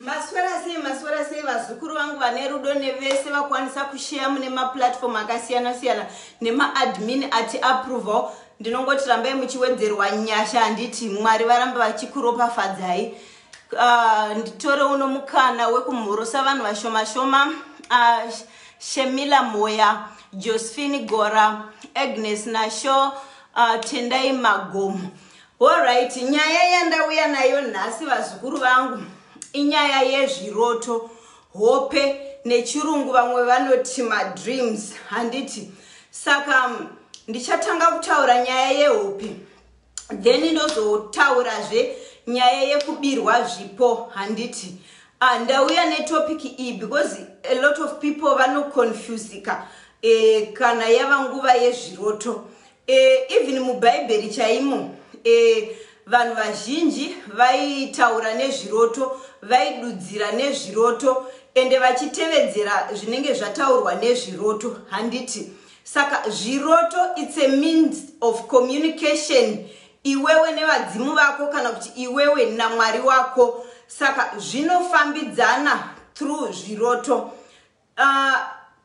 Maswera sei maswera sei vazukuru vangu vane rudo nevese vakwanisa kusheya mune maplatform akasiyana siyana nemaadmin ati approval ndinongoti rambai muchiwedzerwa nyasha handiti mwari varamba vachikuropafadzai uh, nditore uno mukana wekumhurusa vanhu vashoma shoma uh, shemila moya josephine gora agnes nasho uh, tendai magomo Horyt, nyaya yandauya nayo nhasi vazukuru vangu inyaya yezviroto, hope nechirungu vamwe vanoti madreams handiti. Saka mm, ndichatanga kutaura nyaya yehope then ndozotaurazve nyaya yekubirwa zvipo handiti. Ah, ndauya netopic iyi because a lot of people vanoconfusika eh, kana yava nguva yezviroto Eh, even mubhaibheri chaimo eh, vanhu vazhinji vaitaura nezviroto vaidudzira nezviroto ende vachitevedzera zvinenge zvataurwa nezviroto handiti saka zviroto its a means of communication iwewe nevadzimu vako kana kuti iwewe namwari wako saka zvinofambidzana through zviroto Uh,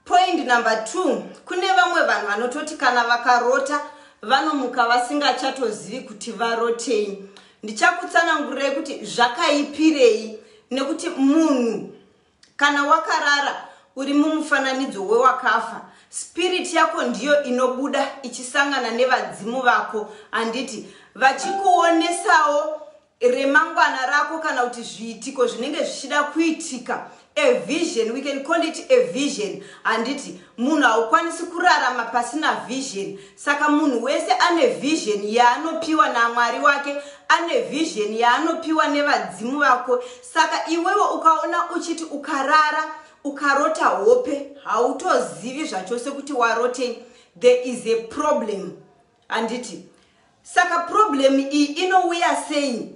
point number two kune vamwe vanhu vanototi kana vakarota vanomuka vasingachatozivi kuti varotei ndichakutsanangurirai kuti zvakaipirei nekuti munhu kana wakarara uri mumufananidzo wewakafa spiriti yako ndiyo inobuda ichisangana nevadzimu vako handiti vachikuonesawo remangwana rako kana kuti zviitiko zvinenge zvichida kuitika a vision we can call it a vision handiti munhu haukwanisi kurarama pasina vision saka munhu wese ane vision yaanopiwa namwari wake ane vision yaanopiwa nevadzimu vako saka iwewe ukaona uchiti ukarara ukarota hope hautozivi zvachose kuti warotei there is a problem Handiti? Saka problem iyi inouya sei?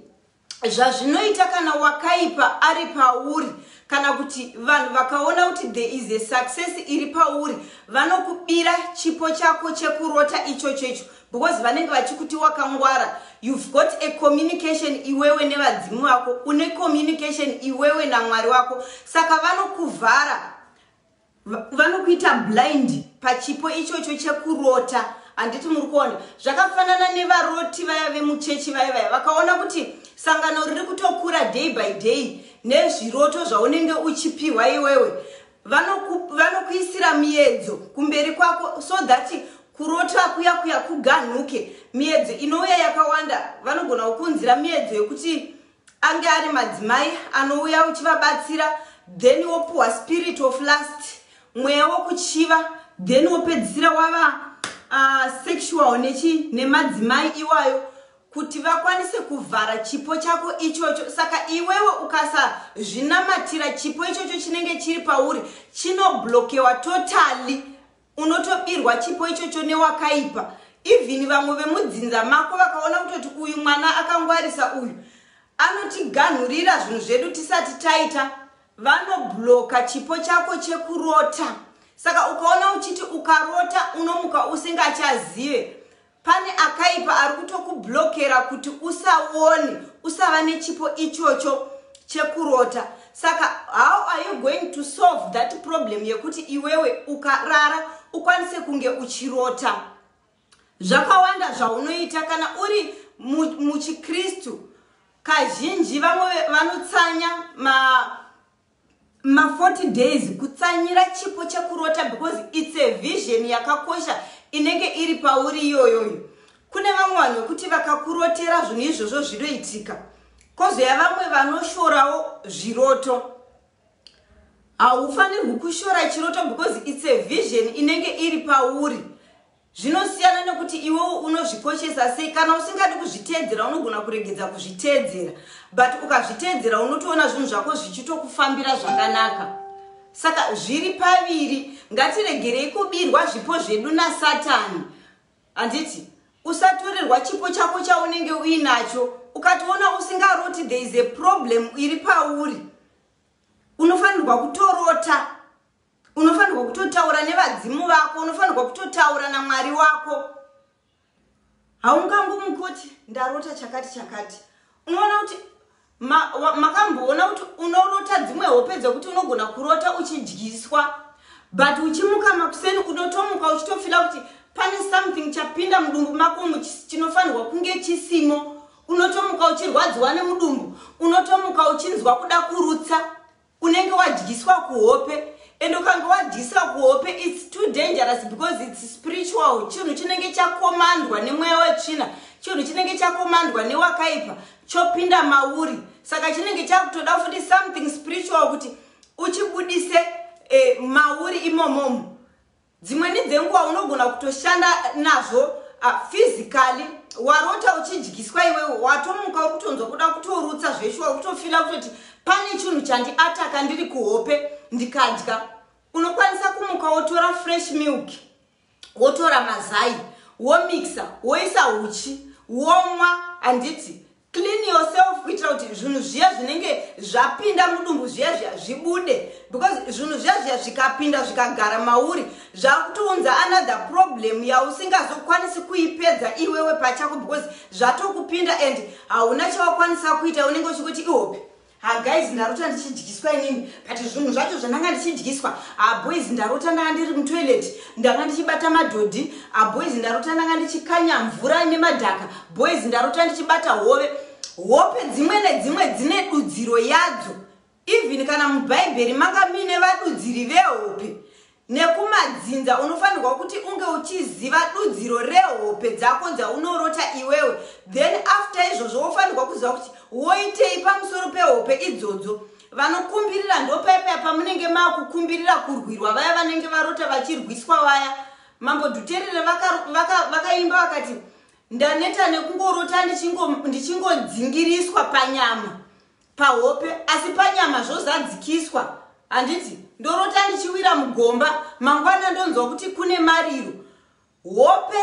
Zvazvinoita kana wakaipa ari pauri kana kuti vanhu vakaona kuti there is a success iri pauri vanokubira chipo chako chekurota ichocho icho because vanenge vachikuti wakangwara you've got a communication iwewe nevadzimu vako une communication iwewe namwari wako saka vanokuvhara vanokuita blind pachipo ichocho chekurota handiti muri kuona zvakafanana nevaroti vaya vemuchechi vaya vaya vakaona kuti sangano riri kutokura day by day nezviroto zvaunenge uchipiwa iwewe vanokuisira vano miyedzo kumberi kwako so that kurota kuya kuya kuganhuke miyedzo inouya yakawanda vanogona kukunzira miyedzo yekuti Ange ari madzimai anouya uchivabatsira then wopuhwa spirit of last mweya wokuchiva then wopedzisira wava uh, sexual nechi nemadzimai iwayo kuti vakwanise kuvhara chipo chako ichocho saka iwewe ukasazvinamatira chipo ichocho chinenge chiri pauri chinoblokewa totally unotobirwa chipo ichocho newakaipa even vamwe vemudzinza mako vakaona kutoti uyu mwana akangwarisa uyu anotiganhurira zvinhu zvedu tisati taita vanobloka chipo chako chekurota saka ukaona uchiti ukarota unomuka usingachazive Pane akaipa ari kutokublockera kuti usaone, usava nechipo ichocho chekurota. Saka how are you going to solve that problem yekuti iwewe ukarara ukwanise kunge uchirota? Zvakawanda zvaunoita kana uri muchikristu, kazhinji vamwe vanotsanya ma ma 40 days kutsanyira chipo chekurota because its a vision yakakosha inenge iri pauri iyoyoyo kune vamwe vanhu vekuti vakakurotera zvinhu izvozvo zvinoitika kozoya vamwe vanoshorawo zviroto haufanirwi kushora chiroto because its a vision inenge iri pauri Zvinosiyana nekuti iwewo unozvikoshesa sei. Kana usingadi kuzviteedzera unogona kuregedza kuzviteedzera but ukazviteedzera unotoona zvinhu zvako zvichitokufambira zvakanaka. Saka zviri paviri, ngatiregerei kubirwa zvipo zvedu naSatani. Handiti? Usatorerwa chipo chako chaunenge uinacho. Ukatoona usingaroti there is a problem iri pauri. Unofanirwa kutorota. unofanirwa kutotaura nevadzimu vako unofanirwa kutotaura namwari wako haungangomuki kuti ndarota chakati chakati unoona kuti makamboona kuti unorota dzimwe hope dzekuti unogona kurota uchidyiswa but uchimuka makuseni unotomuka uchitofila kuti pane something chapinda mudumbu mako chinofanirwa kunge chisimo unotomuka uchirwadziwa nemudumbu unotomuka uchinzwa kuda kurutsa Unenge wadyiswa kuhope and ukange wadyiswa kuhope it's too dangerous because it's spiritual chinhu chinenge chakomandwa nemweya wetsvina chinhu chinenge chakomandwa newakaipa chopinda mauri saka chinenge chakutoda futi something spiritual kuti uchibudise eh, mauri imomomo Dzimweni dzenguva unogona kutoshanda nazvo uh, physically warota uchidyiswa iwewe watomuka uri kutonzwa kuda kutorutsa zveshuwa uri kutofila kutoti pane chinhu chandiataka ndiri kuhope ndikadya unokwanisa kumuka wotora fresh milk wotora mazai womixa woisa uchi womwa handiti Clean yourself kuitira kuti zvinhu zviya zvinenge zvapinda mudumbu zviya zviya zvibude because zvinhu zviya zviya zvikapinda zvikagara mauri zvakutounza another problem yausingazokwanisi kuipedza iwewe pachako because zvatokupinda and hauna chawakwanisa kuita unenge uchikuti ihope Ha guys ndarota ndichidyiswa inini but zvinhu zvacho zvandanga ndichidyiswa ha boys ndarota ndanga ndiri mutoilet ndanga ndichibata madhodhi ha boys ndarota ndanga ndichikanya mvura ine madhaka boys ndarota ndichibata hove hope dzimwe nedzimwe dzine dudziro yadzo even kana mubhaibheri manga muine vadudziri vehope Nekumadzinza unofanirwa kuti unge uchiziva dudziro rehope dzako dzaunorota iwewe then after izvozvo wofanirwa kuziva kuti woitei pamusoro pehope idzodzo. Vanokumbirira ndopaya paya pamunenge makukumbirira kurwirwa vaya vanenge varota vachirwiswa vaya. Mambo Dhuterere vakaimba vaka, vaka vakati ndaneta nekungorota ndichingodzingiriswa panyama pahope asi panyama zvozadzikiswa handiti ndorota ndichiwira mugomba mangwana ndonzwa kuti kune mariro hope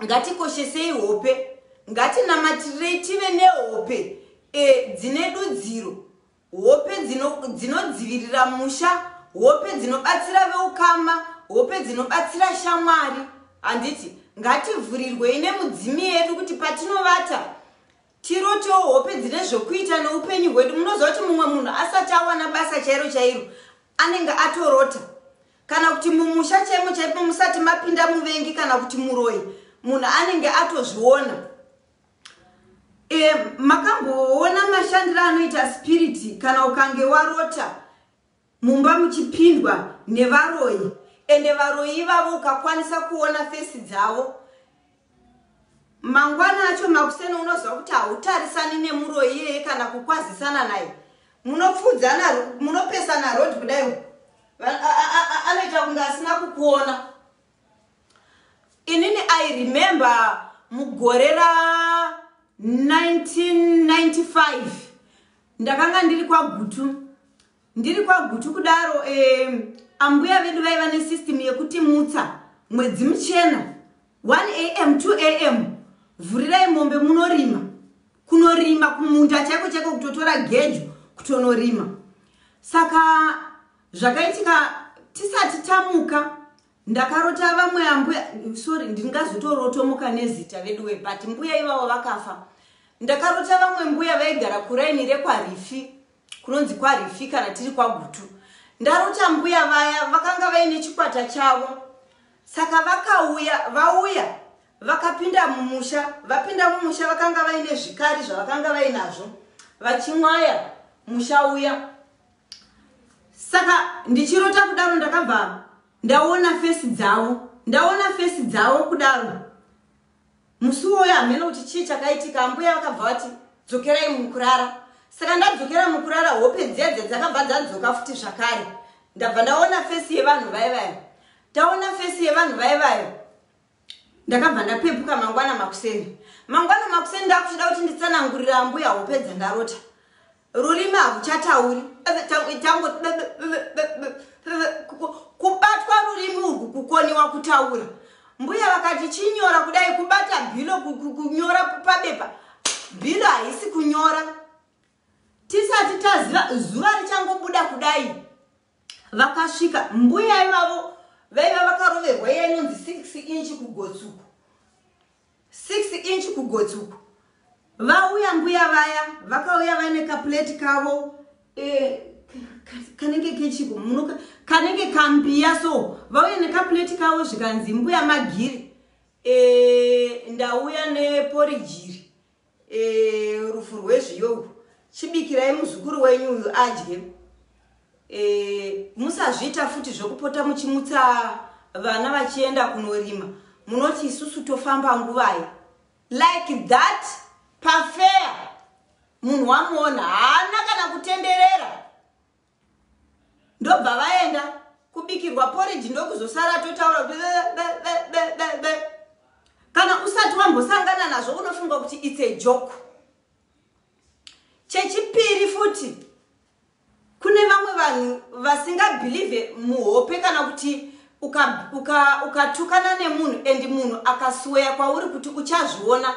ngatikoshesei hope ngatinamatirei tive nehope e, dzine dudziro hope dzinodzivirira dzino musha hope dzinobatsira veukama hope dzinobatsira shamwari handiti ngativhurirwei nemudzimi yedu kuti patinovata Tirotewo hope dzine zvokuita noupenyu hwedu. Munoziva kuti mumwe munhu asati awana basa chairo chairo anenge atorota. Kana kuti mumusha chaimo chaipo musati mapinda muvengi kana kuti muroyi munhu anenge atozviona. E, makamboona mashandiro anoita spiriti kana ukange warota? Mumba muchipindwa nevaroyi ende varoyi ivavo ukakwanisa kuona face dzavo mangwana acho makuseni unoziva kuti hautarisani nemuroyi iyeye kana kukwazisana naye munopfuudzana munopesana road kudai anoita kunge asina kukuona inini i remember mugore ra 1995 ndakanga ndiri kwagutu ndiri kwagutu kudaro um, ambuya vedu vaiva nesystem yekuti mutsa mwedzi muchena 1 am 2 am vhurirai mombe munorima kunorima kumunda chaiko chaiko kutotora gejo kutonorima saka zvakaitika tisati tamuka Ndakarota vamwe ambuya sorry ndingazotorotomuka nezita veduwe but mbuya ivavo vakafa. Ndakarota vamwe mbuya vaigara kuraini rekwaRifi kunonzi kwaRifi kana tiri kwaGutu. Ndarota mbuya vaya vakanga vaine chikwata chavo saka vakauya vauya vakapinda mumusha vapinda mumusha vakanga vaine zvikari zvavakanga vainazvo vachimwaya musha uya saka ndichirota kudaro ndakabva ndaona fesi dzavo ndaona fesi dzavo kudaro musi woyo hameno kuti chii chakaitika ambuya vakabva vati dzokerai mukurara saka ndadzokera mukurara hope dziya dziya dzakabva dzadzoka futi zvakare ndabva ndaona fesi yevanhu vaye vayo taona fesi yevanhu vaye vayo ndakabva ndapepuka mangwana makuseni mangwana makuseni ndakuchida kuti nditsanangurira ambuya hope dzandarota rurimi hakuchatauri kubatwa rurimi urwu kukoniwa kutaura mbuya vakati chinyora kudai kubata bhilo kunyora pabepa bhilo haisi kunyora tisati taziva zuva richangobuda kudai Vakasvika mbuya ivavo vaiva vakaroverwa iya inonzi six inch kugotsuku six inch kugotsuku vauya mbuya vaya vakauya vaine kapuleti kavo eh, kanenge kechiko munoka kanenge kambiya so vauya nekapuleti kavo zvikanzi mbuya magiri e, ndauya neporijiri Eh, rufu rwezviyo urwu chibikirai muzukuru wenyu uyu adye eh, musazviita futi zvekupota muchimutsa vana vachienda kunorima munoti isusu tofamba nguvai like that pafeya munhu wamuona haana kana kutenderera ndobva vaenda kubikirwa porridge ndokuzosara totaura kuti be, be, be, be, be, be. kana usati wambosangana nazvo unofunga kuti its a joke chechipiri futi kune vamwe vanhu vasingabhilivhe muhope kana kuti ukatukana uka, uka nemunhu and munhu akasweya kwauri kuti uchazviona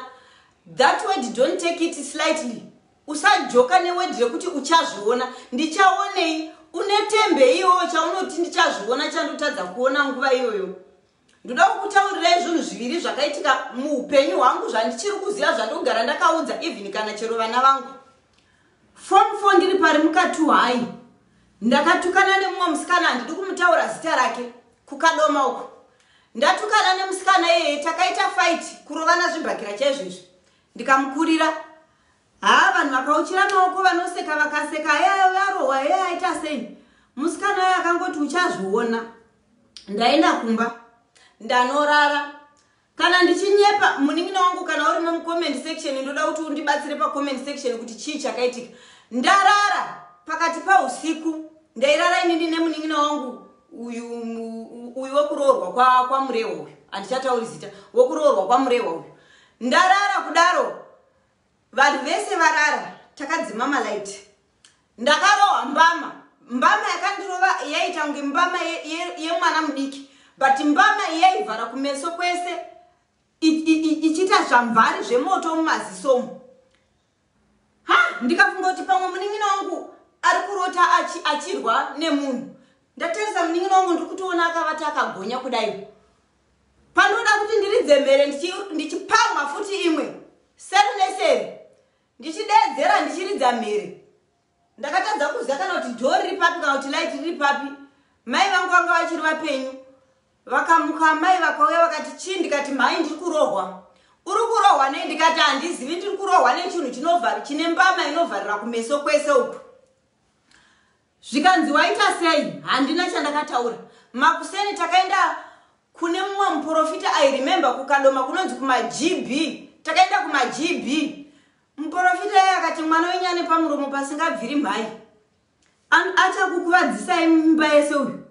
that word don't take it slightly Usajoka neword rekuti uchazviona. Ndichaonei? Une tembe iyoyo chaunoti ndichazviona chandotadza kuona nguva iyoyo. Ndoda kukutaurirai zvinhu zviviri zvakaitika muupenyu hwangu zvandichiri kuziva zvandogara ndakaudza even kana chero vana vangu. Form 4 ndiri pari mukati hwai. Ndakatukana nemumwe musikana handidi kumutaura zita rake kukadoma uko. Ndatukana nemusikana iyeye takaita fight kurovana zvibhakira chaizvo izvi. Ndikamukurira Haa vanhu vakauchira maoko vanoseka vakaseka eya varohwa eya aita sei musikana ayo akangoti uchazviona ndaenda kumba ndanorara kana ndichinyepa munin'ina wangu kana urimo mucomment section ndoda kuti undibatsire pacomment section kuti chii chakaitika ndarara pakati pausiku ndairara inini nemunin'ina wangu uyu uyu wekuroorwa kwamurehwa uyu handichatauri zita wekuroorwa kwamurehwa uyu Ndarara kudaro vanhu vese varara takadzima malight. Ndakarohwa mbama. Mbama yakandirova yaita kunge mbama yemwana ye, ye mudiki but mbama yaivhara kumeso kwese ichiita zvamvari zvemoto mumazisomo. Ha ndikafunga kuti pamwe munin'ina wangu ari kurota achi, achirwa nemunhu. Ndatarisa munin'ina wangu ndiri kutoona akavata akagonya kudai. Panoda kuti ndiridze mhere ndichipamha futi imwe seri neseri ndichideedzera ndichiridza mhere. Ndakatadza kuziva kana kuti door riri papi kana kuti light riri papi. Mai vangu vanga vachiri vapenyu. Vakamuka amai vakauya vakati chii ndikati mhai ndiri kurohwa. Uri kurohwa nei ndikati handizivi ndiri kurohwa nechinhu chinovhara chine mbama inovharira kumeso kwese uku. Zvikanzi waita sei? Handina chandakataura. Makuseni takaenda kune mumwe muprofita I remember kukadoma kunonzi kuma GB. Takaenda kuma GB. Muporofita iye akati mwana wenyu ane pamuromo pasingabviri mhai. Achakukuvadzisai mimba yese uyu.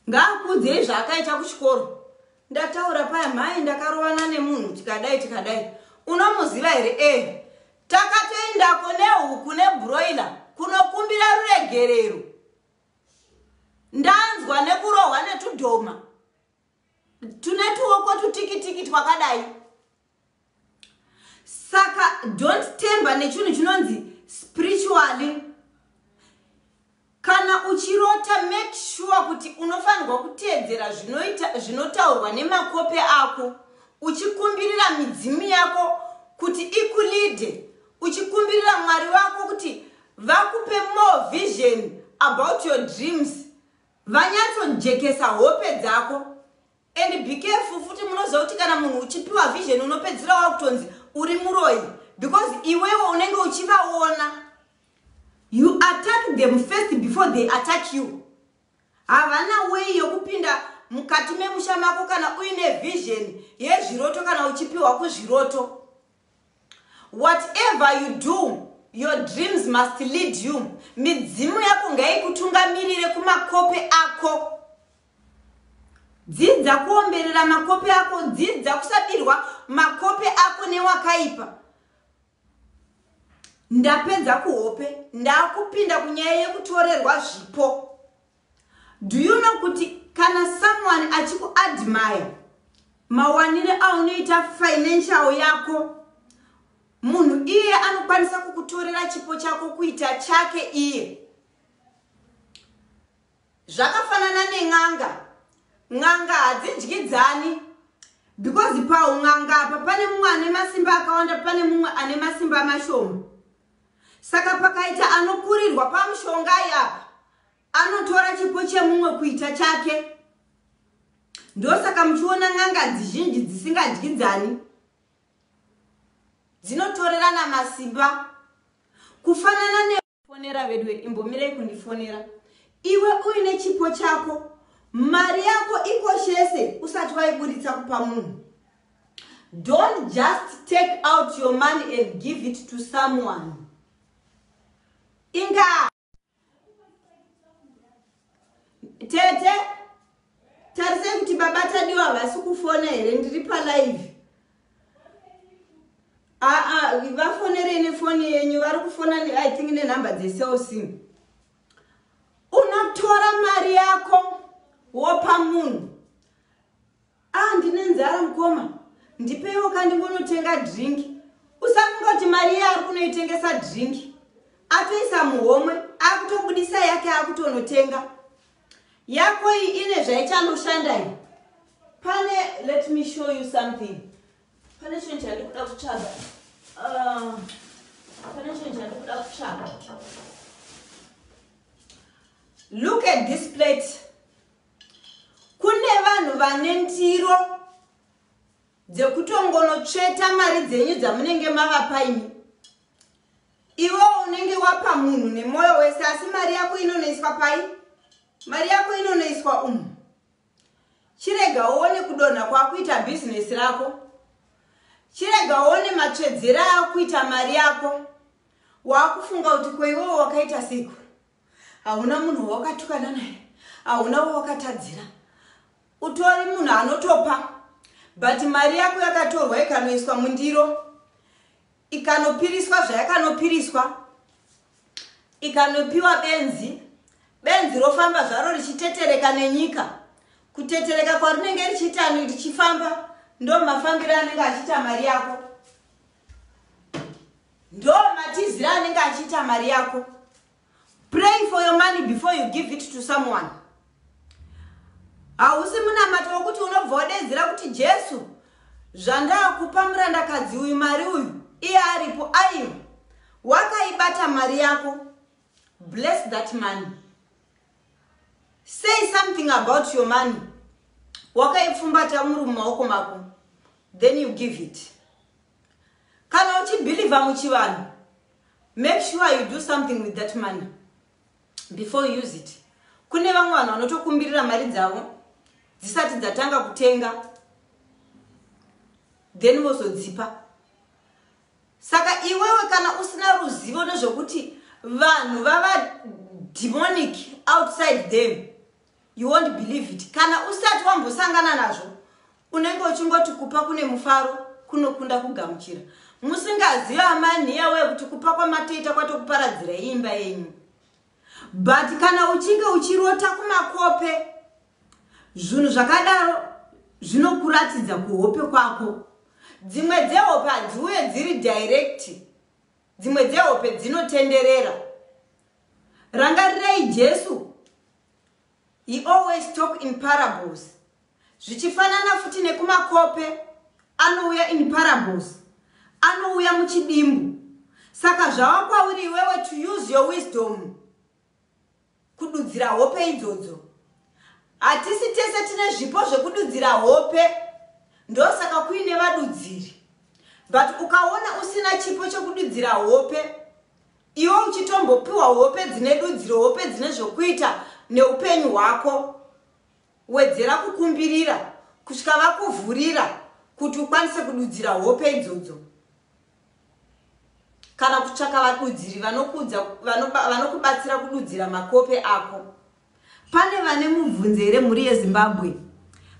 Ngaakuudzei zvaakaita kuchikoro. Ndataura paya mhai ndakarovana nemunhu tikadai tikadai. Unomuziva here? Eh. Takatoendako nehuku nebroiler kunokumbira ruregerero. Ndanzwa nekurohwa netudhoma. Tune tuoko tutikitiki twakadai. saka don't temba nechinhu chinonzi spiritually kana uchirota make sure kuti unofanirwa kuteedzera zvinoita zvinotaurwa nemakope ako uchikumbirira midzimu yako kuti ikulide uchikumbirira mwari wako kuti vakupe more vision about your dreams vanyatsojekesa hope dzako And be careful futi munoziva kuti kana munhu uchipiwa vision unopedzira wakutonzi uri muroyi because iwewo unenge uchivaona you attack them first before they attack you havana wei yokupinda mukati memusha mako kana uine vision yezviroto kana uchipiwa kuzviroto whatever you do your dreams must lead you midzimu yako ngaikutungamirire kumakope ako Dzidza kuomberera makope ako. Dzidza kusabirwa makope ako newakaipa. Ndapedza kuhope. Ndakupinda kunyaya yekutorerwa zvipo. Do you know kuti kana someone achikuadmire mawanire aunoita financial yako munhu iye anokwanisa kukutorera chipo chako kuita chake iye Zvakafanana nen'anga. N'anga hadzidyidzani because paun'anga apa pane mumwe ane masimba akawanda pane mumwe ane masimba mashoma. Saka pakaita anokurirwa pamushongai apa anotora chipo chemumwe kuita chake. Ndosaka muchiona n'anga dzizhinji dzisingadyidzani dzinotorerana masimba kufanana ne fonera veduwe imbomirei kundifonera iwe uine chipo chako mari yako ikoshese usati waiburitsa kupa munhu don't just take out your money and give it to someone inga Tete, tarisai kuti baba Tadiwa havasi kufona here ndiri palive. Aa vafonerei nefoni yenyu vari kufona I think nenumber dzeCell C. Unotora mari yako wopa munhu. Ah ndine nzara mukoma ndipeiwo ka ndimbonotenga drink. Usafunga kuti mari iye ari kunoitengesa drink. Atoisa muhomwe akutobudisa yake akutonotenga. Yako iyi ine zvaichanoshanda iyi. Pane let me show you something. Pane chinhu chandikuda kutsvaga. Uh, pane chinhu chandikuda kutsvaga. Look at this plate. Kune vanhu vane ndiro dzekutongonotsveta mari dzenyu dzamunenge mavapa imi. Iwo unenge wapa munhu nemoyo wese asi mari yako inonoiswa pai? Mari yako inonoiswa umu. Chirega uone kudonha kwakuita bhizinesi rako. Chirega uone matsvedzera akuita mari yako. Wakufunga kuti kweiwowo wakaita siku. Hauna munhu wawakatukana naye, hauna wawakatadzira. Utori munhu anotopa but mari yako yakatorwa ikanoiswa mundiro ikanopiriswa zvayakanopiriswa ikanopiwa benzi benzi rofamba zvaro richitetereka nenyika kutetereka kwarinenge richiita richifamba ndomafambiro anenge achiita mari yako Ndoo matizira anenge achiita mari yako. Pray for your money before you give it to someone. Hausi munamato wokuti unobva wadedzera kuti Jesu zvandakupa murandakadzi uyu mari uyu iye aripo aiwa wakaibata mari yako bless that money. Say something about your money. Wakaipfumbata muri mumaoko mako. Then you give it. Kana uchibhilivha muchivanhu, make sure you do something with that money before you use it. Kune vamwe vanhu vanotokumbirira mari dzavo dzisati dzatanga kutenga then vozodzipa. Saka iwewe kana usina ruzivo nezvekuti vanhu vava demonic outside them you won't believe it kana usati wambosangana nazvo unenge uchingoti kupa kune mufaro kunokunda kugamuchira musingazive amai nhiya wekuti kupa kwamatoita kwatokuparadzira imba yenyu But kana uchinge uchirota kumakope zvunhu zvakadaro zvinokuratidza kuhope kwako. Dzimwe dzehope hadziuye dziri direct. Dzimwe dzehope dzinotenderera. Rangarirei Jesu. He always talk in parables. Zvichifanana futi nekumakope anouya in parables. Anouya muchidimbu. Saka zvava kwauri iwewe to use your wisdom kududzira hope idzodzo. Hatisi tese tine zvipo zvekududzira hope. Ndosaka kuine vadudziri. But ukaona usina chipo chekududzira hope Iwe uchitombopiwa hope dzine dudziro, hope dzine zvokuita neupenyu hwako. Wedzera kukumbirira kusvika vakuvhurira kuti ukwanise kududzira hope idzodzo. Kana kutsvaka vadudziri vanokubatsira kududzira makope ako Pane vane mubvunzo here mhuri yeZimbabwe?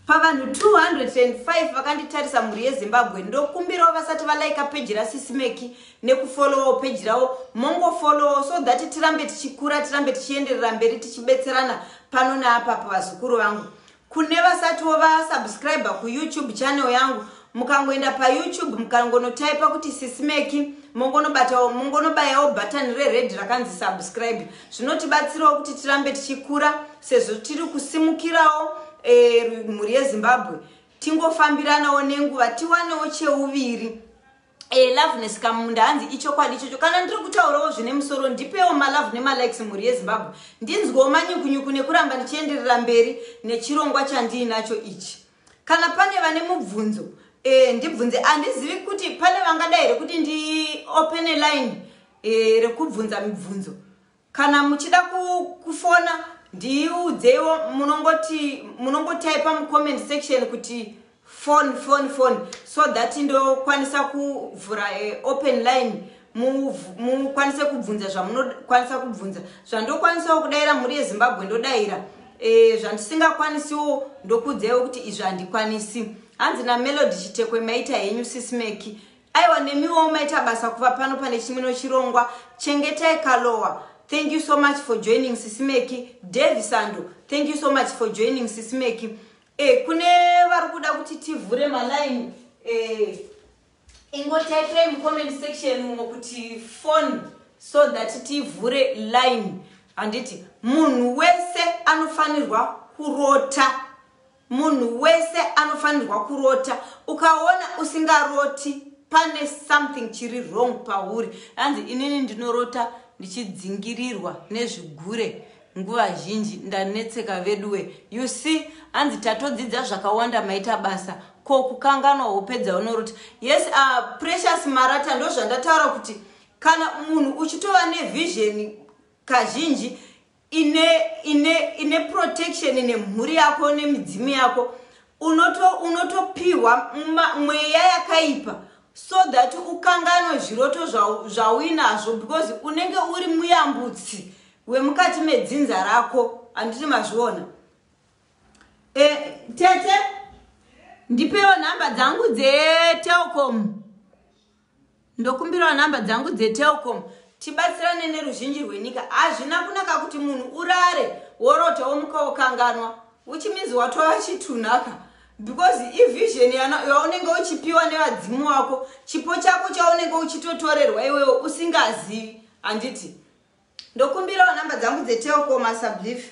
Pavanhu 205 vakanditarisa mhuri yeZimbabwe ndokumbirawo vasati valaika peji rasisi Meki nekufollowawo peji ravo mongofollowawo so that tirambe tichikura tirambe tichienderera mberi tichibetserana pano neapapa vazukuru vangu Kune vasatiwo va subscriber ku YouTube channel yangu mukangoenda pa YouTube mukangonotaipa kuti sisimeki mongonobatawo mongonobayawo button re red rakanzi subscribe zvinotibatsirawo kuti tirambe tichikura sezvo tiri kusimukirawo eh, mhuri yeZimbabwe tingofambiranawo nenguva tiwanewo cheuviri Eh, loveness kamunda hanzi ichokwadi ichocho kana ndiri kutaurawo zvine musoro ndipewo malove nemalikes mhuri yezimbabwe ndinzwewo manyukunyuku nekuramba ndichienderera mberi nechirongwa chandiinacho ichi kana pane vane mubvunzo eh, ndibvunze handizivi kuti pane vangada here kuti ndiopene line eh, rekubvunza mibvunzo Kana muchida kufona ndiudzeiwo munongoti munongotaipa mucomment section kuti phone phone phone so that ndokwanisa kuvhura eh, open line mukwanise kubvunza zvamunokwanisa kubvunza zvandokwanisawo kudaira mhuri yezimbabwe ndodaira eh, zvandisingakwanisiwo ndokuudzaiwo kuti izvi handikwanisi hanzi namelody chitekwe maita henyu sismeki aiwa nemiwo maita basa kuva pano pane chimwe nochirongwa chengetai kalowa thank you so much for joining sisimeki davi sando thank you so much for joining sisimeki e, kune vari kuda kuti tivhure maline e, eh, ingotaipirai mucomment section umo kuti phone so that tivhure line handiti munhu wese anofanirwa kurota Munhu wese anofanirwa kurota ukaona usingaroti pane something chiri wrong pauri hanzi inini ndinorota ndichidzingirirwa nezvigure nguva zhinji ndanetseka veduwe you see hanzi tatodzidza zvakawanda maita basa ko kukanganwa hope dzaunorota yes uh, precious marata ndozvandataura kuti kana munhu uchitova nevizheni kazhinji ine ine ine protection nemhuri yako nemidzimu yako unotopiwa unoto mweya yakaipa so that ukanganwe zviroto zvauinazvo because unenge uri muyambutsi wemukati medzinza rako handiti mazviona e, tete ndipewo nhamba dzangu dzetelcom Ndokumbirawo number dzangu dze telcom tibatsirane neruzhinji rwenyika hazvina kunaka kuti munhu urare worota womuka wokanganwa which means watova chitunhaka because ivision yaunenge uchipiwa nevadzimu wako chipo chako chaunenge uchitotorerwa iwewo usingazivi handiti ndokumbirawo number dzangu dze telcom asablief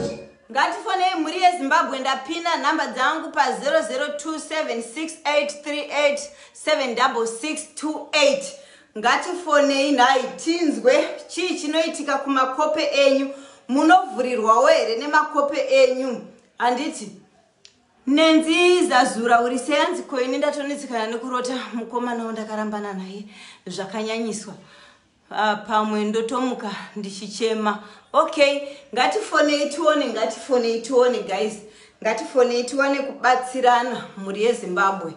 ngatifonei mhuri yezimbabwe ndapina nhamba dzangu pa002768387628 ngatifonei nhai tinzwe chii chinoitika kumakope enyu munovhurirwawo here nemakope enyu handiti nenzi zazura uri seyanzi koini ndatonetsekana nekurota mukomana wandakarambana naye zvakanyanyiswa Ah, pamwe ndotomuka ndichichema okay ngatifonei tione ngatifonei tione guys ngatifonei tiwane kubatsirana mhuri yezimbabwe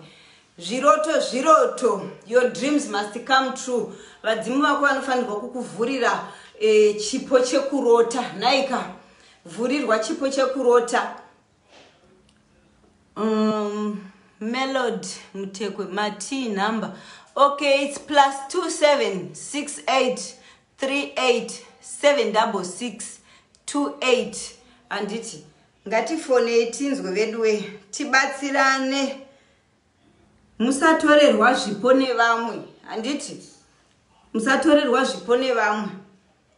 zviroto zviroto your dreams must come true vadzimu vako vanofanirwa kukuvhurira eh, chipo chekurota naika vhurirwa chipo chekurota um, melod mutekwe mati number okay its plus 2768387628 handiti ngatifonei tinzwe veduwe tibatsirane musatorerwa zvipo nevamwe handiti musatorerwa zvipo nevamwe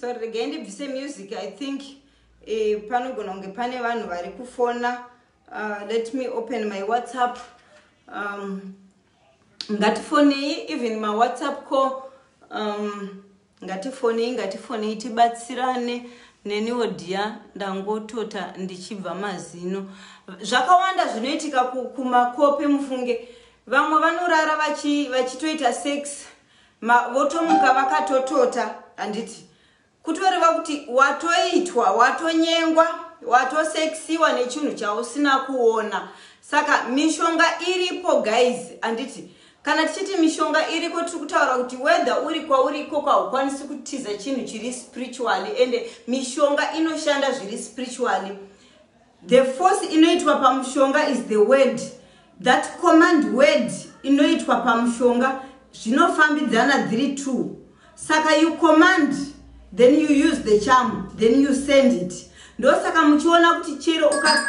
sorry regai ndibvise music i think eh, panogona kunge pane vanhu vari kufona uh, let me open my whatsapp um, ngatifonei even mawhatsapp call um, Ngatifonei ngatifonei tibatsirane neniwo dear ndangotota ndichibva mazino. Zvakawanda zvinoitika kumakope mufunge vamwe vanorara vachi, vachitoita sex ma, votomuka vakatotota handiti kutoreva kuti watoitwa watonyengwa watoseksiwa nechinhu chausina kuona saka mishonga iripo guys handiti Kana tichiti mishonga iriko tiri kutaura kuti whether uri kwauri ikoko haukwanisi kutiza chinhu chiri spiritually ende mishonga inoshanda zviri spiritually the force inoitwa pamushonga is the word that command word inoitwa pamushonga zvinofambidzana dhiri two saka you command then you use the charm then you send it ndosaka muchiona kuti chero uka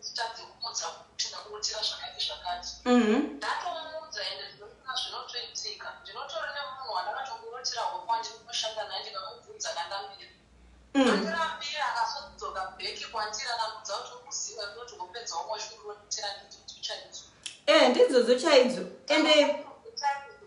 Usitadze kumudza kuti ndakuitira zvakati zvakati. Mhm. Ndatomudza ende ndinoona zvinotoitika. Ndinotori nemunhu wandakatomurotera hope wandinoshanda naye ndikamubvunza kandambira. Mm. Andirambira akazodzoka back kwandiri akandudza kuti ukuziva ndinoti wopedza womwe zvikurotera ndidzo uchaidzo. Eh, ndidzodzo chaidzo. Ende Chaidzo.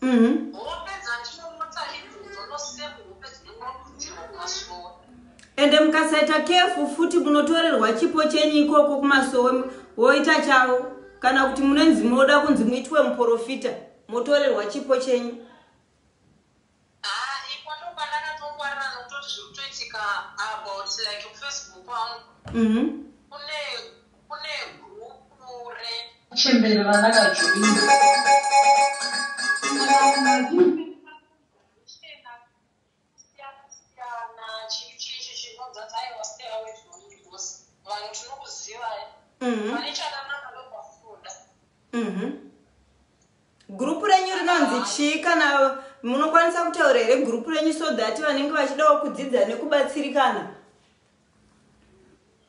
Mhm. Hope dzatinonotsa ibvunzo nosemu hope dzinongokudzirwa kumasowe. ende mukasaita kefu futi munotorerwa chipo chenyu ikoko kumasowe mu- woita chavo kana kuti munonzi munoda kunzi muitwe muporofita motorerwa chipo chenyu Ah, ipo ndopandakatongwarira nokutoti zviri kutoitika about like kufacebook kwangu Mhm. kune Kune group re chembere randaka joina. Mhm. Mhm. Group renyu rinonzi chii kana munokwanisa kutaura here group renyu so that vanenge vachidawo kudzidza nekubatsirikana?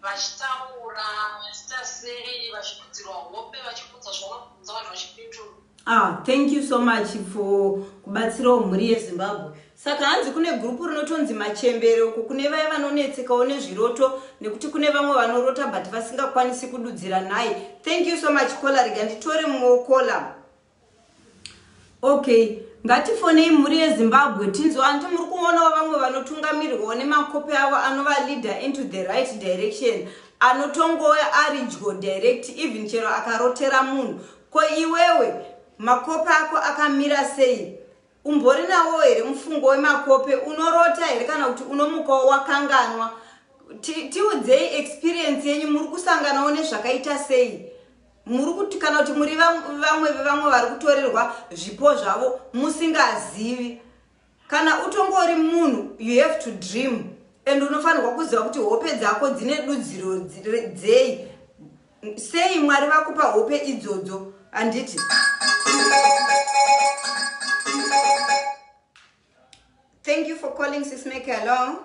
vachitaura vachita sei vachikudzirwa hope vachikudza zvaunobvunza vanhu vachipindura Ah, thank you so much for kubatsirawo mhuri yezimbabwe saka hanzi kune gurupu rinotonzi machembere uko kune vaya vanonetsekawo nezviroto nekuti kune vamwe vanorota but vasingakwanisi kududzira nhai thank you so much kola rega nditore mumwewo kola Okay, ngatifonei mhuri yeZimbabwe tinzwe hanti muri kuonawo vamwe vanotungamirirwawo nemakope avo anova leader into the right direction anotongouya ari dyo direct even chero akarotera munhu ko iwewe makope ako akamira sei Umbori nawo here mufungo wemakope? Unorota here kana kuti unomukawo wakanganwa? Tiudzei experience yenyu, muri kusanganawo nezvakaita sei? Muri kuti kana kuti muri vamwe vevamwe vari kutorerwa zvipo zvavo musingazivi? Kana utongori munhu, you have to dream and unofanirwa kuziva kuti hope dzako dzine dudziro dzei. Sei Mwari vakupa hope idzodzo handiti? Thank you for calling Sis Meki. Hello.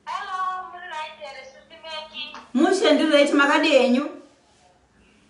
Hello, muri right here Sis Meki. Mushe ndiri right makadi enyu?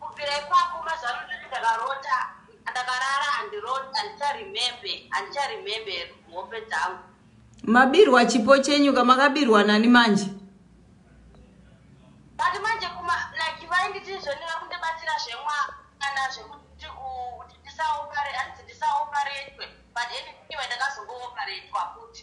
Kubvira ipapo mazano ndini ndakarota ndakarara handicharemembe handicharemembe hope dzangu mabirwa chipo chenyu ka makabirwa nani manje but manje kuma like vainditi zvoni vakundibatsira zvemwana zvekuti kuti ndisaopare hanzi ndisaoparetwe but anyway ndakazongooparetwa futi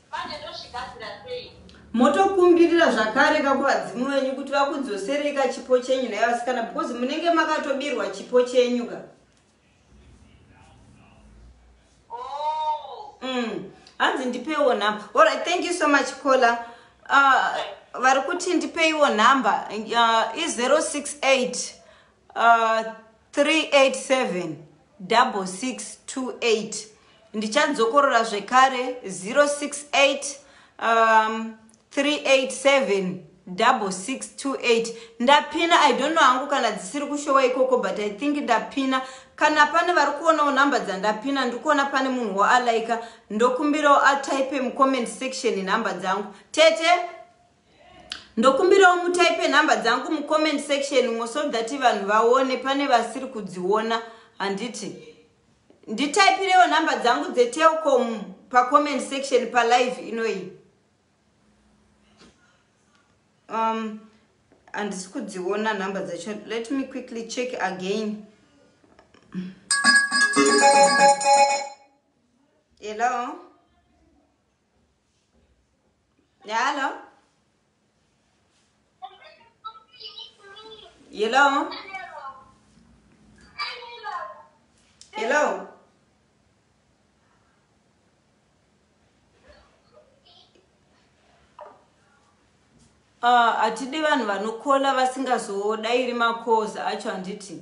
Manje ndozvigadzira sei? Motokumbirira zvakare ka kuvadzimu venyu kuti vakudzoserei ka chipo chenyu nhai vasikana because munenge makatobirwa chipo chenyu ka. Oh. Mm. Hanzi ndipewo nhamba. All right, thank you so much caller. Uh, vari kuti ndipeiwo nhamba uh, i 068 3876628 ndichandzokorora zvekare 068 um, 3876628 ndapina i don't know hangu kana dzisiri kushowa ikoko but i think ndapina kana pane vari kuonawo nhamba dzandapina ndiri kuona pane munhu woalaika ndokumbirawo ataipe mucomment section nhamba dzangu tete Ndokumbirawo mutaipe number dzangu mu comment section umo so that vanhu vaone pane vasiri kudziona handiti. Nditaipirewo number dzangu dze Telkom pa comment section pa live inoyi. Um handisi kudziona number dzacho. Let me quickly check again. Hello. Hello. Hello. Hello. Ah, hatidi vanhu vanokola vasingazodairi makoza acho handiti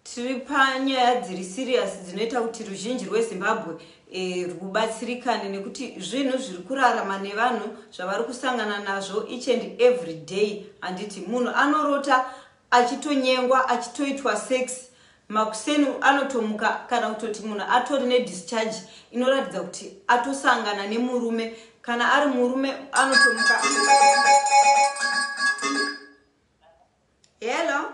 Tiri panyaya dziri serious dzinoita kuti ruzhinji rweZimbabwe e, rwubatsirikane nekuti zvinhu zviri kurarama nevanhu zvavari kusangana nazvo each and every day handiti munhu anorota achitonyengwa achitoitwa sex makuseni anotomuka kana kutoti munhu atori nedischarge inoratidza kuti atosangana nemurume kana ari murume anotomuka hello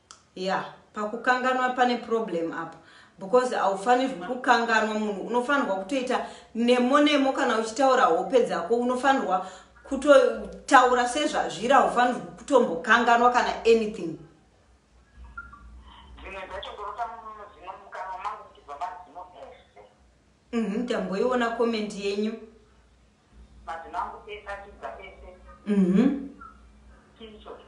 Yeah pakukanganwa pane problem apa because haufanirwi kukanganwa munhu unofanirwa kutoita nemo nemo kana uchitaura hope dzako unofanirwa kutotaura sezvazviri haufanirwi kutombokanganwa kana anything mhm, tamboiona komenti yenyu mm -hmm, Madzimambo ese achibva ese. Mhm. Chii ichocho?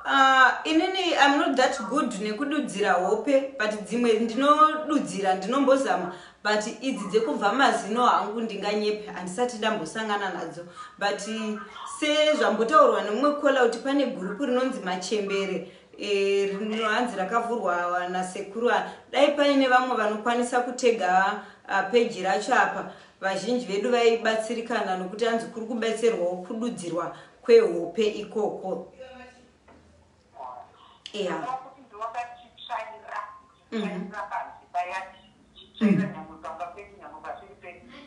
Uh, inini I'm not that good nekududzira hope but dzimwe ndinodudzira ndinombozama but idzi dzekubva mazino hangu ndinganyepe handisati ndambosangana nadzo but sezvambotaurwa nemumwe kola kuti pane gurupu rinonzi machembere eh, rinohanzi e, rakavhurwa nasekuru dai paine vamwe vanokwanisa kutega uh, peji racho apa Vazhinji vedu vaibatsirikana nokuti hanzi kuri kubetserwawo kududzirwa kwehope ikoko. Yeah. Mm -hmm.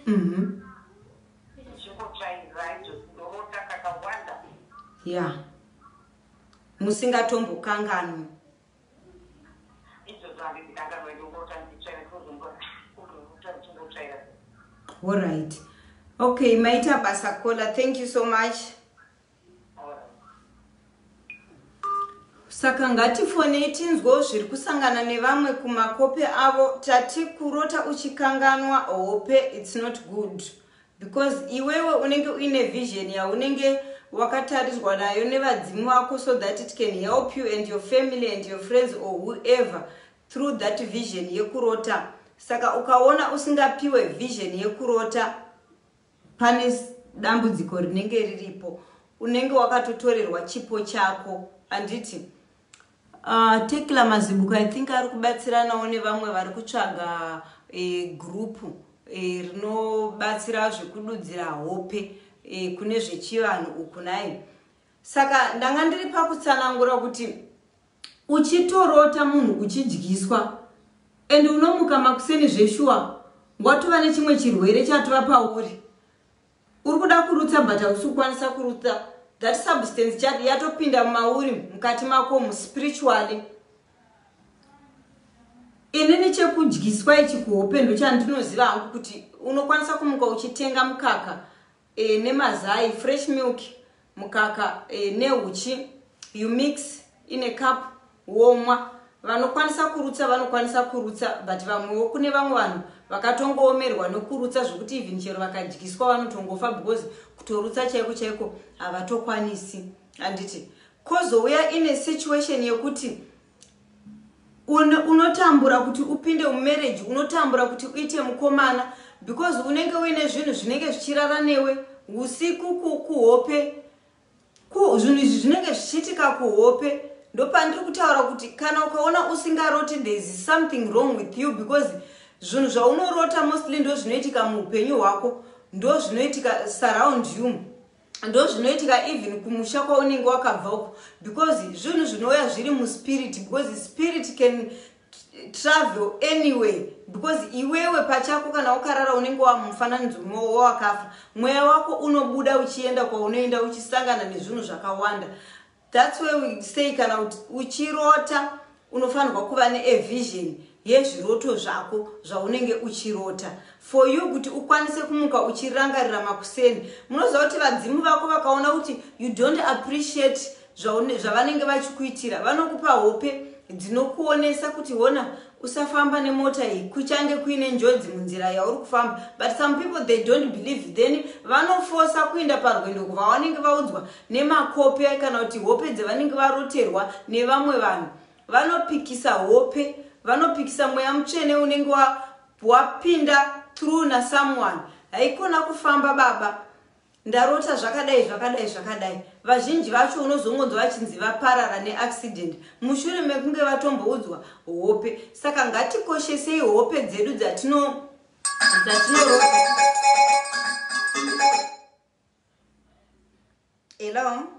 Mm -hmm. Yeah. musingatombokanganwi Alright. Okay, maita basa caller. Thank you so much. Saka ngatifonei tinzwewo zviri kusangana nevamwe kumakope avo tati kurota uchikanganwa hope it's not good. Because iwewe unenge uine vision yaunenge wakatarirwa nayo nevadzimu vako so that it can help you and your family and your friends or whoever through that vision yekurota. Saka ukaona usingapiwe vision yekurota pane dambudziko rinenge riripo. Unenge wakatotorerwa chipo chako. Handiti? Uh, Tekla Mazibuko, I think ari kubatsiranawo nevamwe vari kutsvaga e, group e, rinobatsira zvekududzira hope e, kune zvechivanhu uku naye. Saka ndanga ndiri pakutsanangura kuti uchitorota munhu uchidyiswa and unomuka makuseni zveshuwa watova nechimwe chirwere chatova pauri Uri kuda kurutsa but hausi kukwanisa kurutsa. That substance chati yatopinda mumauri mukati makomu spiritually. Inini chekudyiswa ichi kuhope ndochandinoziva hangu kuti unokwanisa kumuka uchitenga mukaka e, nemazai fresh milk mukaka e, neuchi you mix in a cup womwa vanokwanisa kurutsa vanokwanisa kurutsa but vamwewo kune vamwe vanhu vakatongoomerwa nokurutsa zvokuti even chero vakadyiswa vanotongofa because kutorutsa chaiko chaiko havatokwanisi handiti kozouya ine situation yekuti unotambura un kuti upinde mumarriage unotambura kuti uite mukomana because unenge uine zvinhu zvinenge zvichirara newe usiku kuhope zvinhu izvi zvinenge zvichiitika kuhope ndopandiri kutaura kuti kana ukaona usingaroti thereis something wrong with you because zvinhu zvaunorota mostly ndo zvinoitika muupenyu hwako ndo zvinoitika surround you ndozvinoitika even kumusha kwaunenge wakabva uko because zvinhu zvinouya zviri muspirit because spirit can travel anyway because iwewe pachako kana ukarara unenge wamufananidzo mwowo wawakafa mweya wako unobuda uchienda kwaunoenda uchisangana nezvinhu zvakawanda That's why we say kana kuti uchirota unofanirwa kuva ne a vision yezviroto zvako zvaunenge uchirota for you kuti ukwanise kumuka uchirangarira makuseni munoziva kuti vadzimu vako vakaona kuti you don't appreciate zvavanenge vachikuitira vanokupa hope dzinokuonesa kuti hona Usafamba nemota iyi kuchange kuine njodzi munzira yauri kufamba but some people they don't believe then vanofosa kuinda parwendo kuvawanenge vaudzwa nemakope kana kuti hope dzevanenge varoterwa nevamwe vanhu vanopikisa hope vanopikisa mweya mutsvene unenge wapinda through nasomeone haikona kufamba baba Ndarota zvakadai zvakadai zvakadai. Vazhinji vacho unozongonzwa vachinzi vaparara neaccident mushure mekunge vatomboudzwa hope. Saka ngatikoshesei hope dzedu dzatino dzatinorova. Hello.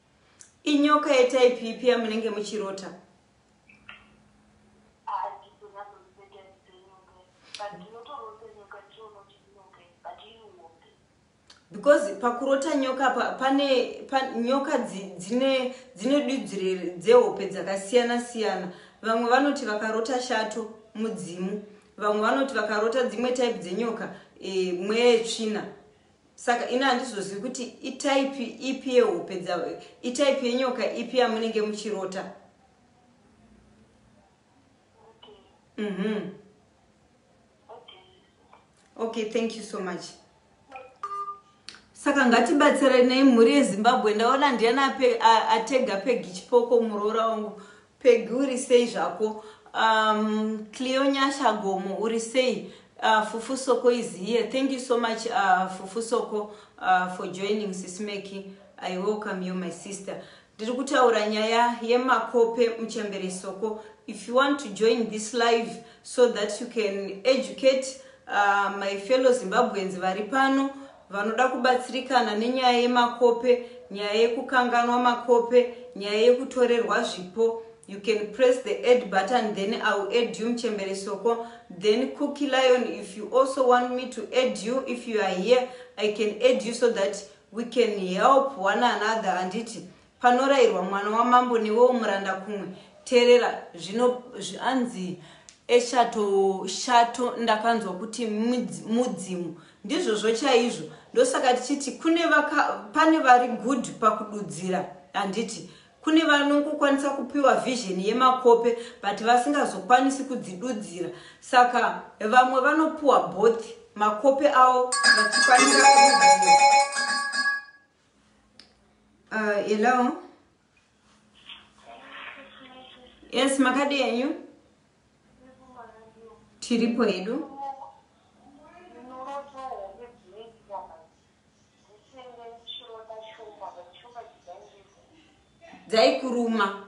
Inyoka yetype ipi yamunenge muchirota? because pakurota nyoka pa, pane pa, nyoka dzine dzine dudzire dzehope dzakasiyana siyana vamwe vanoti vakarota shato mudzimu vamwe vanoti vakarota dzimwe type dzenyoka e, mweya yetsvina Saka ini handizozivi kuti itype ipi yehope dza itype yenyoka ipi yamunenge muchirota. Okay. Mhm. Mm okay. Okay, thank you so much. Saka ngatibatsira nei mhuri yeZimbabwe ndaona ndiyana atega pegi chipoko muroora wangu. Peggy uri sei zvako. Um, Cleo Nyasha Gomo uri sei. Uh, Fufu Soko is here. Thank you so much uh, Fufu Soko uh, for joining Sismeki. I welcome you my sister. Ndiri kutaura nyaya yemakope muchembere Soko. If you want to join this live so that you can educate uh, my fellow Zimbabweans vari pano Vanoda kubatsirikana nenyaya yemakope, nyaya yekukanganwa makope, nyaya yekutorerwa zvipo, you can press the add button then I will add you Mchembere Soko, then Cookie Lion if you also want me to add you if you are here I can add you so that we can help one another handiti Panorairwa mwana wamambo newewo muranda kumwe terera zvino zvanzi eshato shato ndakanzwa kuti mudzimu ndizvozvo chaizvo ndosaka tichiti kune vaka pane vari good pakududzira handiti kune vanongokwanisa kupiwa vision yemakope but vasingazokwanisi kudzidudzira saka vamwe vanopiwa both makope avo vachikwanisa kududzira Uh, hello. Yes, makadi enyu. Tiripo hedu. Dzaikuruma.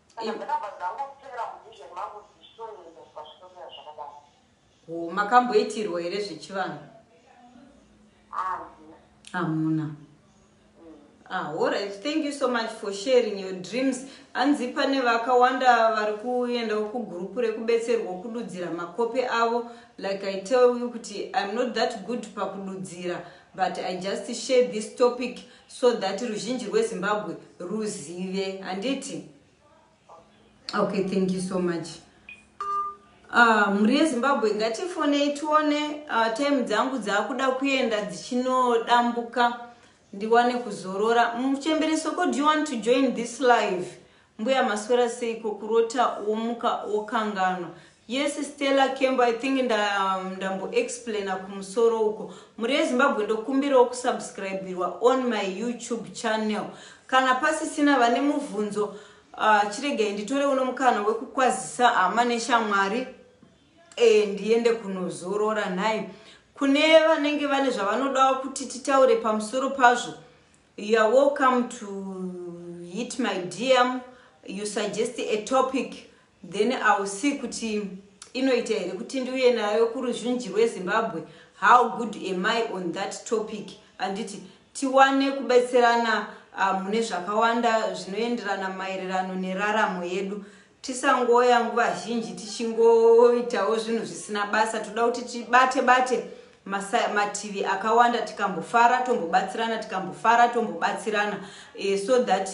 Kana ndakabva ndangotevera muvision mangu kuti zvichitoendeswa zvitomira zvakadaro. Ko makamboitirwa here zvechivanhu? Handina. Hamuna. Ah, alright. Thank you so much for sharing your dreams. Hanzi pane vakawanda vari kuendawo kugroup rekubetserwa kududzira makope avo. Like I tell you kuti I'm not that good pakududzira but I just share this topic so that ruzhinji rwezimbabwe ruzive handiti okay thank you so much Ah, mhuri yezimbabwe ngatifonei tione ah, time dzangu dzaakuda kuenda dzichinodambuka ndiwane kuzorora muchembere soko do you want to join this live Mbuya maswera seiko kurota womuka wokanganwa. Yes Stella Kembo I think nda ndambo explainer kumusoro uko. Mhuri yeZimbabwe ndokumbirawo kusubscribirwa on my YouTube channel. Kana pasisina vane muvhunzo uh, chiregai nditore uno mukana wekukwazisa hama neshamwari e, ndiende kunozorora nhai. Kune vanenge vane zvavanodawo kuti titaure pamusoro pazvo You're welcome to hit my DM you suggest a topic then I will see kuti inoita here kuti ndiuye nayo kuruzhinji rweZimbabwe how good am I on that topic anditi tiwane kubetserana uh, mune zvakawanda zvinoenderana maererano neraramo yedu Tisangoya nguva zhinji tichingoitawo zvinhu zvisina basa, toda kuti tibate bate mativi akawanda tikambofara tombobatsirana tikambofara tombobatsirana e, so that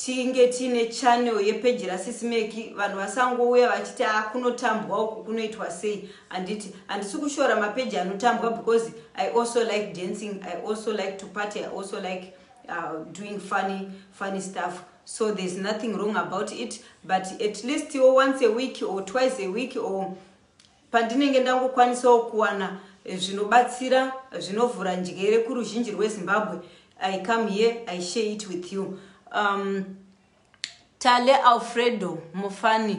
tinge tiine channel yepeji rasisi meki vanhu vasangouya vachiti a ah, kunotambwa uku kunoitwa sei handiti handisi kushora mapeji anotambwa because i also like dancing i also like to party i also like uh, doing funny, funny stuff so there's nothing wrong about it but at least iwo once a week or twice a week or pandinenge ndangokwanisawo kuwana eh, zvinobatsira zvinovhura njere kuruzhinji rwezimbabwe i come here i share it with you um, tale alfredo mufani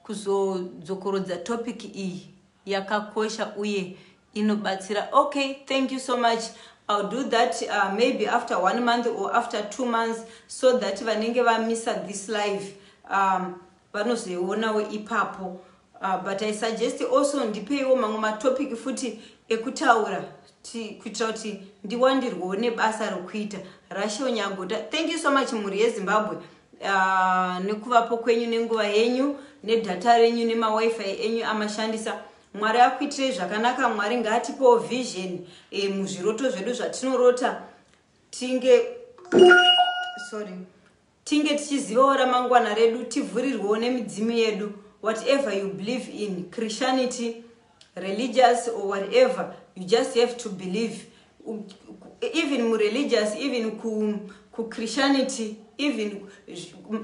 kuzodzokorodza topic iyi yakakosha uye inobatsira okay thank you so much I'll do that uh, maybe after one month or after two months so that vanenge vamisa this live um, vanozoionawo ipapo uh, but i suggest also ndipeiwo mamwe matopic futi ekutaura kuti kuitira kuti ndiwandirwewo nebasa rokuita rashel nyagota thank you so much mhuri yezimbabwe uh, nekuvapo kwenyu nenguva yenyu nedhata renyu nemawifi enyu amashandisa mwari akuitirei zvakanaka mwari ngaatipewo vision e, muzviroto zvedu zvatinorota tinge sorry Tinge tichizivawo ramangwana redu tivhurirwewo nemidzimu yedu whatever you believe in Christianity, religious or whatever you just have to believe even mu religious even ku, ku Christianity even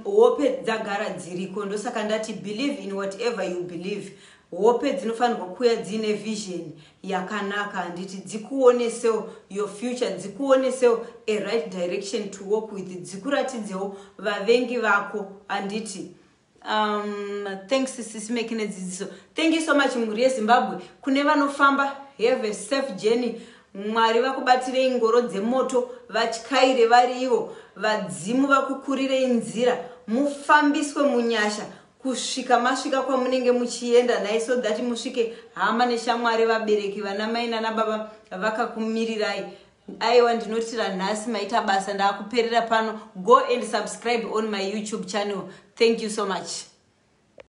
hope dzagara dziriko ndosaka ndati believe in whatever you believe Hope dzinofanirwa kuuya dziine vision yakanaka handiti dzikuonesewo your future dzikuonesewo a right direction to walk with dzikuratidzewo vavengi vako handiti um, thanks sisimeki nedzidziso thank you so much mhuri yezimbabwe kune vanofamba have a safe journey mwari vakubatirei ngoro dzemoto vatyaire vari ivo vadzimu vakukurirei nzira mufambiswe munyasha kusvika masvika kwamunenge muchienda nhai so that musvike hama neshamwari vabereki vana mai nana baba vakakumirirai aiwa ndinotira nhasi maita basa ndaakuperera pano go and subscribe on my youtube channel thank you so much